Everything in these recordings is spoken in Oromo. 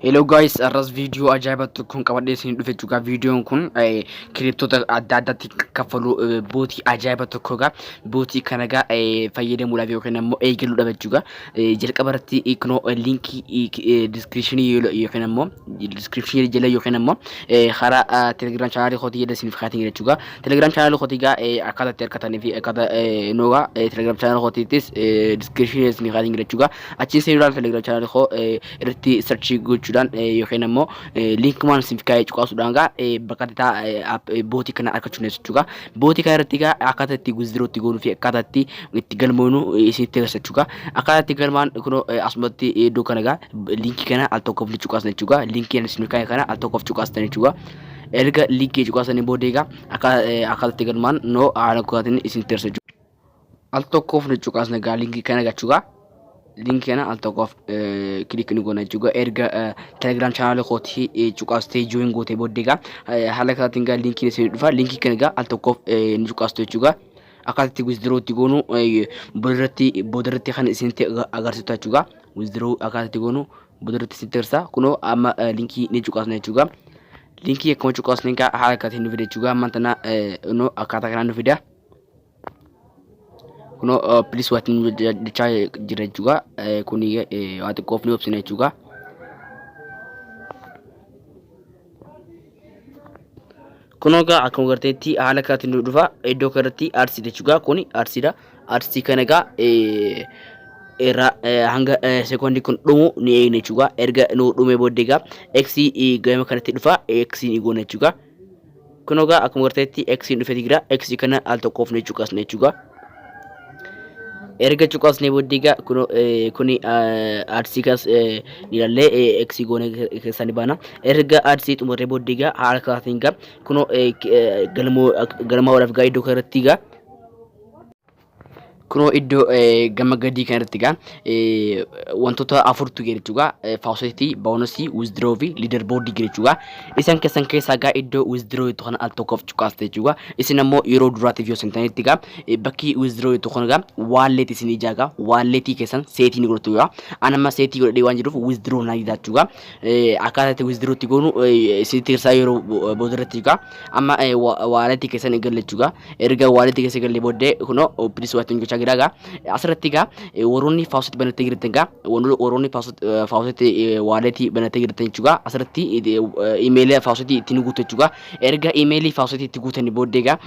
Hello guys, arras viidiyoo ajaa'iba tokkoon qabadhee isin dhufe jechuudha. Viidiyoon kun kiriptoota adda addaatti kaffaluu bootii ajaa'iba tokkodha. Bootii kana egaa fayyadamuudhaaf yookiin immoo eegaluudhaaf jechuudha. Jalqaba irratti kunoo liinkii diskiripshinii yookiin immoo diskiripshinii jala yookiin immoo karaa telegiraam chaanaalii kootii jala isiniif kaatiin jechuudha. Telegiraam chaanaalii kootii egaa akkaataa itti argatanii fi akkaataa noogaa telegiraam chaanaalii kootiittis diskiripshinii isiniif kaatiin jechuudha. Achiin seenuudhaan Telegram channel koo eh, irratti search gochuudhaan eh, yookiin ammoo eh, link man siif kaa'ee cuqaasuudhaan gaa eh, bakka itti taa- eh, app- eh, bootii kana argachuu dandeessu jechuudha. Bootii kana irratti gaa akkaataa itti withdraw itti goonuu fi akkaataa itti itti galmoonu eh, isinitti agarsiisa jechuudha. Akkaataa itti galmaan kunoo eh, asumatti eh, iddoo kana gaa linkii kana al tokkoof ni cuqaasan jechuudha. Linkii ani isin kaa'e kana al tokkoof cuqaastan jechuudha. Erga linkii cuqaasanii booda egaa akka eh, akkaataa itti galmaan noo haala kootiin isinitti agarsiisa jechuudha. al tokkoof ni cuqaasna gaa linkii kana gachugaa linkii kana al tokkoof kilik ni goona jechuudha erga telegram channel kooti cuqaastee join gootee booddee gaa haala kanaatiin gaa linkiin isin dhufa linkii kana gaa al tokkoof ni cuqaastu jechuudha akkaataa itti withdraw itti goonu boodarratti boodarratti kan isinitti agarsiisu jechuudha withdraw akkaataa itti goonu boodarratti isinitti agarsiisa kunoo amma linkii ni cuqaasna jechuudha linkii akkuma cuqaasne gaa haala kanaatiin nu fida jechuudha amma tana no akkaataa kanaan nu fida. Kuno uh, please waati nu jechaa jira jechuudha. Eh, Kuni eh, waa xiqqoof ni obsina jechuudha. Kun egaa akkuma garteetti haala kanatti nu dhufa iddoo kanatti arsiidha jechuudha. Kuni arsiidha. Arsii kana egaa eh, irraa eh, hanga eh, sekoondii kun dhumu ni eegna jechuudha. Erga nu dhumee booddee egaa x eh, gama kanatti dhufa x ni goona jechuudha. Kunoo gaa akkuma garteetti x hin dhufeeti jira x kana al tokkoof ni cuqasne jechuudha. Erga cuqasne booddee gaa kunoo eh, kuni eh, adsii kanas eh, ni ilaallee eh, x goone keessaa ni baana. Erga adsii xumurree booddee gaa haala kanaatiin gaa kunoo eh, k- eh, galmoo galmaa walaaf gaa iddoo kanarratti gaa Kunoo iddoo eh, gama gadii kanarratti egaa eh, wantoota afurtu jira jechuudha. Eh, Faucet, bonus, withdraw fi leader board jira jechuudha. Isan keessan keessaa egaa iddoo withdraw jettu kana al tokkoof cuqaasta jechuudha. Isin ammoo yeroo duraatiif yoo sentanitti egaa eh, bakki withdraw jettu kun egaa wallet isin ijaa egaa walletii keessan seetii ni godhatu egaa. An amma seetii godhadhee waan jiruuf withdraw naa didaa jechuudha. akkaataa itti withdraw itti goonu isinitti hirsaa yeroo booda irratti egaa amma waaleetii keessan eegalle jechuudha erga waaleetii keessa eegalle booddee kunoo opinis waatiin gochaa jira egaa asirratti egaa warroonni faawusitti banattee jirtan egaa warroonni faawusitti waaleetii banattee jirtan jechuudha asirratti imeelii faawusitti ittiin guutu jechuudha erga imeelii faawusitti itti guutanii booddee egaa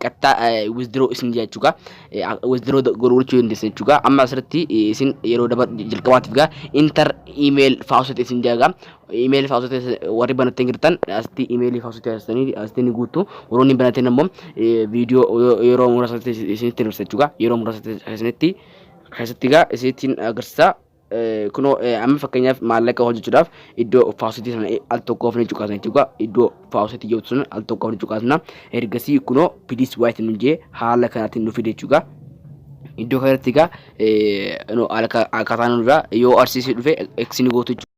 qaxxaa withdraw isin jechuudha withdraw godhuu gochuu dandeessan jechuudha. Amma asirratti isin yeroo daba jalqabaatiif gaa inter email faasota isin jaaga. Email faasota warri banattee jirtan asitti email faasota asitanii asitti ni guuttu. Warroonni banateen ammoo viidiyoo yeroo muraasatti isinitti hir'isa jechuudha. Yeroo muraasatti isinitti keessatti gaa isinitti agarsiisa. kunoo amma fakkeenyaaf maallaqa hojjechuudhaaf iddoo faawusitii sana al tokkoof ni cuqaasna jechuudha. Iddoo faawusitii jettu sana al tokkoof ni cuqaasna. Ergasii kunoo piliis waayiti nu jee haala kanaatiin nu fide jechuudha. Iddoo kanatti egaa akkaataa nurraa yoo arsiisee dhufe eksi ni gootu jechuudha.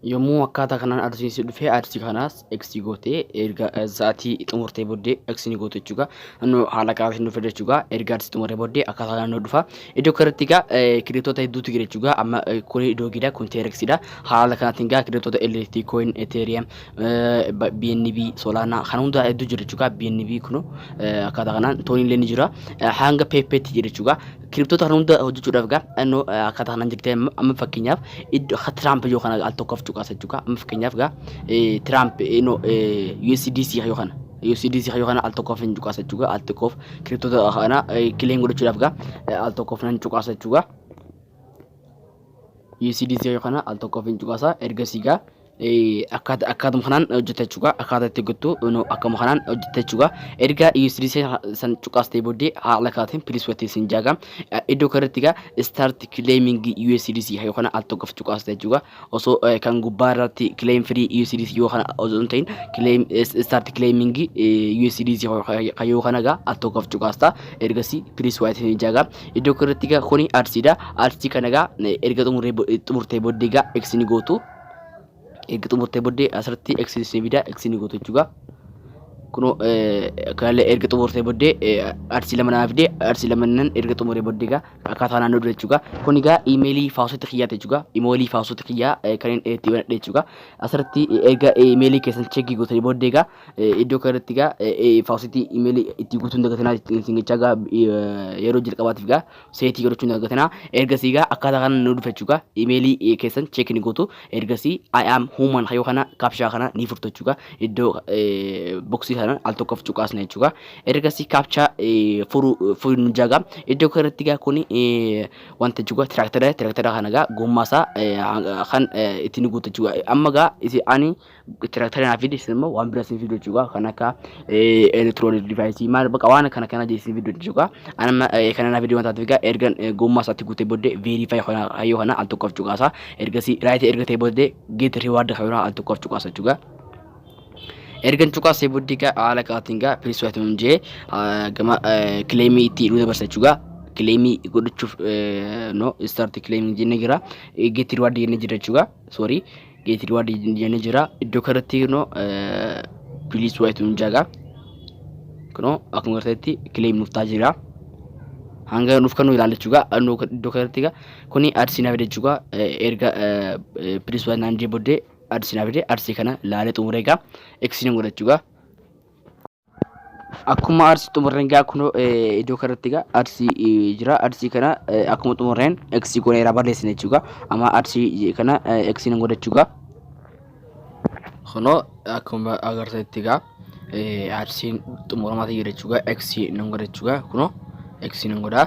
Yommuu akkaataa kanaan aduun si dhufee aduu kanaas X gootee erga sa'aatii xumurtee booddee X ni gootu jechuudha. Annoo haala kanaatiin dhufe jechuudha. Erga aduu xumurtee booddee akkaataa kanaan nu dhufa. Iddoo kanatti egaa kireetoota hedduutu jira jechuudha. Amma kun doogiidha kun teereksiidha. Haala kanaatiin egaa kireetoota LT coin, Ethereum, BNB, Solana kan hundaa hedduu jira jechuudha. BNB kun akkaataa kanaan tooniillee ni jira. Hanga peeppeetti jira jechuudha. Kiriptoota kana hunda hojjechuudhaaf egaa innoo akkaataa kanaan jirtee amma fakkeenyaaf iddoo akka Tiraamp yoo kana al tokkoof cuqaasa jechuudha. Amma fakkeenyaaf egaa Tiraamp innoo USDC yoo kana USDC yoo kana al tokkoof hin cuqaasa jechuudha. Al tokkoof kiriptoota kana kileen godhachuudhaaf egaa al tokkoof nan cuqaasa jechuudha. USDC yoo kana al tokkoof hin cuqaasa ergasii egaa akkaata akkaatuma kanaan hojjeta jechuudha akkaata itti gottu no akkuma kanaan hojjeta jechuudha erga usd san cuqaastee booddee haala kaatiin pilis watti sin jaaga iddoo kanarratti gaa start claiming usd yoo kana al tokkof cuqaastee jechuudha osoo kan gubbaa irratti claim free usd yoo kana osoo hin ta'in claim start claiming usd yoo kana gaa al tokkof cuqaasta ergasii pilis watti sin jaaga iddoo kanarratti gaa kuni arsiidha arsii kana gaa erga xumurtee booddee gaa x ni gootu erga xumurtee booddee asirratti x ishee bidaa x ni gootu jechuudha. Kunoo kanallee erga xumurtee booddee arsii lama naa fidee arsii lama nan erga xumuree booddee egaa akkaataa naannoo dura jechuudha. Kun egaa imeelii faawusoota kiyyaati jechuudha. Imeelii faawusoota kiyyaa kanneen itti banadhe jechuudha. Asirratti erga imeelii keessan cheekii gootanii booddee egaa iddoo kanarratti egaa faawusiitti imeelii itti guutuun dagatinaa isin jechaa egaa yeroo jalqabaatiif egaa seetii godhachuun argatana ergasii egaa akkaataa kana nu dhufa jechuudha imeelii keessan cheek ni gootu ergasii I am human yoo kana kaapshaa kana ni furtu jechuudha iddoo boksii kana al tokkoof cuqaasna jechuudha ergasii kaapshaa furuu furuu nu jaaga iddoo kanarratti egaa kun wanta jechuudha tiraaktara tiraaktara kana egaa gommaasaa kan ittiin guutu jechuudha amma egaa ani Tiraktara naaf fidi isin immoo waan bira isin fidu jechuudha kan akka elektiroonik divaayisii maal baqa waan kana kana isin fidu jechuudha. Ani amma kana naaf fidi waan taateef egaa ergan gommaa isaatti guutee booddee veeriifaayi kana hayyoo kana al tokkoof cuqaasa ergasii raayitii erga ta'e booddee geet riwaardi kana al tokkoof cuqaasa jechuudha. ergan cuqaasee booddee egaa haala kaatiin egaa piriis waatuun jee gama kileemii itti nu dabarsa jechuudha. Kileemii godhachuuf no istaarti kileemii jennee jira. Geetti riwaardii jennee jira jechuudha. Soorii Geeti duwaa jenne jira. Iddoo kanatti kunoo piliis wayitu nu jaga. Kunoo akkuma garteetti kileem nuuf taa jira. Hanga nuuf kan nu ilaallachuu gaa iddoo kanatti gaa kuni adsii na fide jechuudha. Erga piliis wayitu naan jee booddee adsii na fide adsii kana laalee xumuree gaa eksii nan godha jechuudha. Akkuma arsii xumurreen gaa kunoo eh, iddoo kanatti gaa arsii eh, jira arsii kana eh, akkuma xumurreen x goonee irraa barreessina jechuudha amma arsii eh, kana eh, x hin godhachuu gaa kunoo akkuma agartanitti gaa eh, arsiin xumuramaa ta'e jechuudha x hin godhachuu gaa kunoo x hin godhaa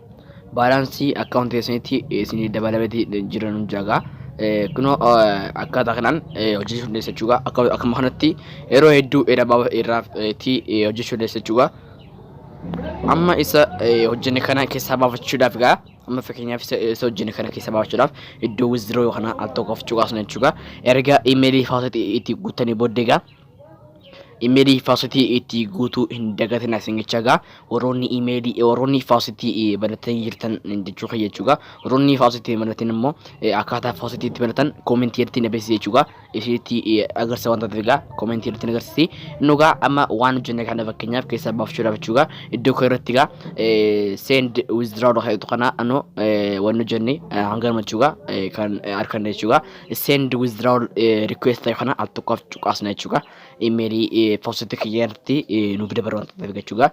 baalaansii akkaawuntii keessanitti isinii dabalameti jira nun jaagaa kunoo akkaataa kanaan hojjechuu dandeessa jechuudha akka akkuma kanatti yeroo hedduu irraa irraa itti hojjechuu dandeessa jechuudha amma isa hojjenne kana keessaa baafachuudhaaf egaa amma fakkeenyaaf isa isa hojjenne kana keessaa baafachuudhaaf iddoo wizdiroo kana al tokkoof cuqaasna jechuudha erga imeelii faasatti itti guuttanii booddee egaa imeelii faasitii itti guutuu hin dagatina singicha egaa warroonni imeelii warroonni faasitii banatanii jirtan jechuu kiyya jechuudha warroonni faasitii banatan immoo akkaataa faasitii itti banatan koomentii irratti na beeksisi jechuudha isinitti agarsiisa waan taateef egaa koomentii irratti na agarsiisi inni egaa amma waan hojjenne kana fakkeenyaaf keessaa baafachuudhaaf jechuudha iddoo koo irratti egaa send withdraw jedhu kana anoo waan hojjenne hanga nama jechuudha kan arganne jechuudha send withdrawal eh, request ta'e kana al tokkoof cuqaasna jechuudha. Imeelii eh, poostii kiyya irratti eh, nuuf dabalu waan ta'eef jechuudha.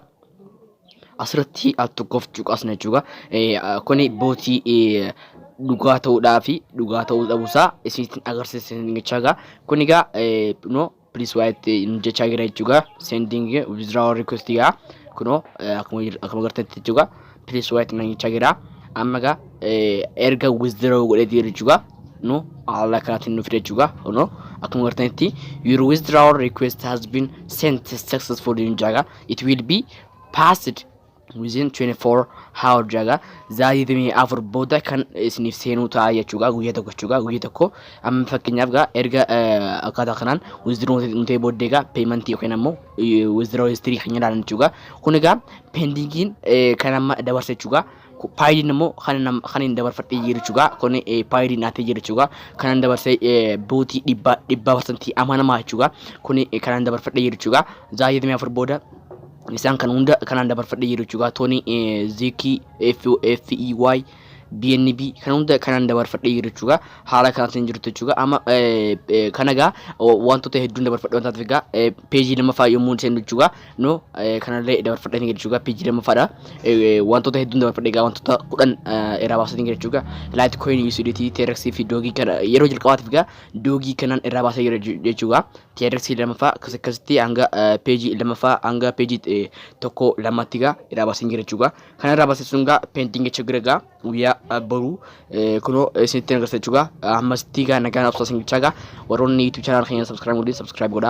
Asirratti al tokkoof cuqaasna jechuudha. Eh, ah, Kuni bootii eh, dhugaa ta'uudhaa fi dhugaa ta'uu dhabuusaa isinitti agarsiisan jechuudha. Kuni egaa eh, no please waa itti hin jechaa jira jechuudha sending withdrawal request yaa kunoo eh, akkuma jir- akkuma gartetti jechuudha please waa itti hin jechaa jira amma gaa eh, erga withdraw godhee jira jechuudha nu haala kanaatiin nuuf jechuudha kunoo akkuma gartetti your withdrawal request has been sent successfully in jaga it will be passed within 24 hour jaga zaatii dimii afur booda kan isiniif seenuu ta'a jechuudha guyyaa tokko jechuudha guyyaa tokko amma fakkeenyaaf gaa erga akkaataa kanaan withdraw nuti booddee gaa payment yookiin ammoo withdraw history kan ilaalan jechuudha kun egaa pendingiin kan amma dabarse jechuudha paayidiin immoo kan hin dabarfadhe jiru jechuudha kun paayidiin naatee jiru jechuudha kan hin dabarse bootii dhibbaa dhibbaa parsantii amanamaa jechuudha kun kan hin dabarfadhe jiru jechuudha zaatii dimii afur booda isaan kan hunda kanaan dabarfadhee jiru jechuudha tooni zikii FEY BNB kan hunda kanaan dabarfadhee jiru jechuudha haala kanaatiin jirtu jechuudha amma kana egaa wantoota hedduun dabarfadhe wanta ta'eef egaa peejii lammaffaa yommuu seennu jechuudha no kanallee dabarfadhee ni jechuudha peejii lammaffaadha wantoota hedduun dabarfadhe egaa wantoota kudhan irraa baasanii jira jechuudha laayit kooyin USDT TRX fi doogii kana yeroo jalqabaatiif egaa doogii kanaan irraa baasee jira jechuudha TRX lamaffaa akkas akkasitti hanga peejii lamaffaa hanga peejii tokko lamatti gaa irraa baaseen jira jechuudha. Kana irraa baasee sun gaa peentingi achi gira gaa guyyaa boruu kunoo isinitti agarsiisa jechuudha. Ammasitti gaa nagaan obsaa isin jechaa gaa warroonni YouTube channel keenya subscribe godhin subscribe godhaa.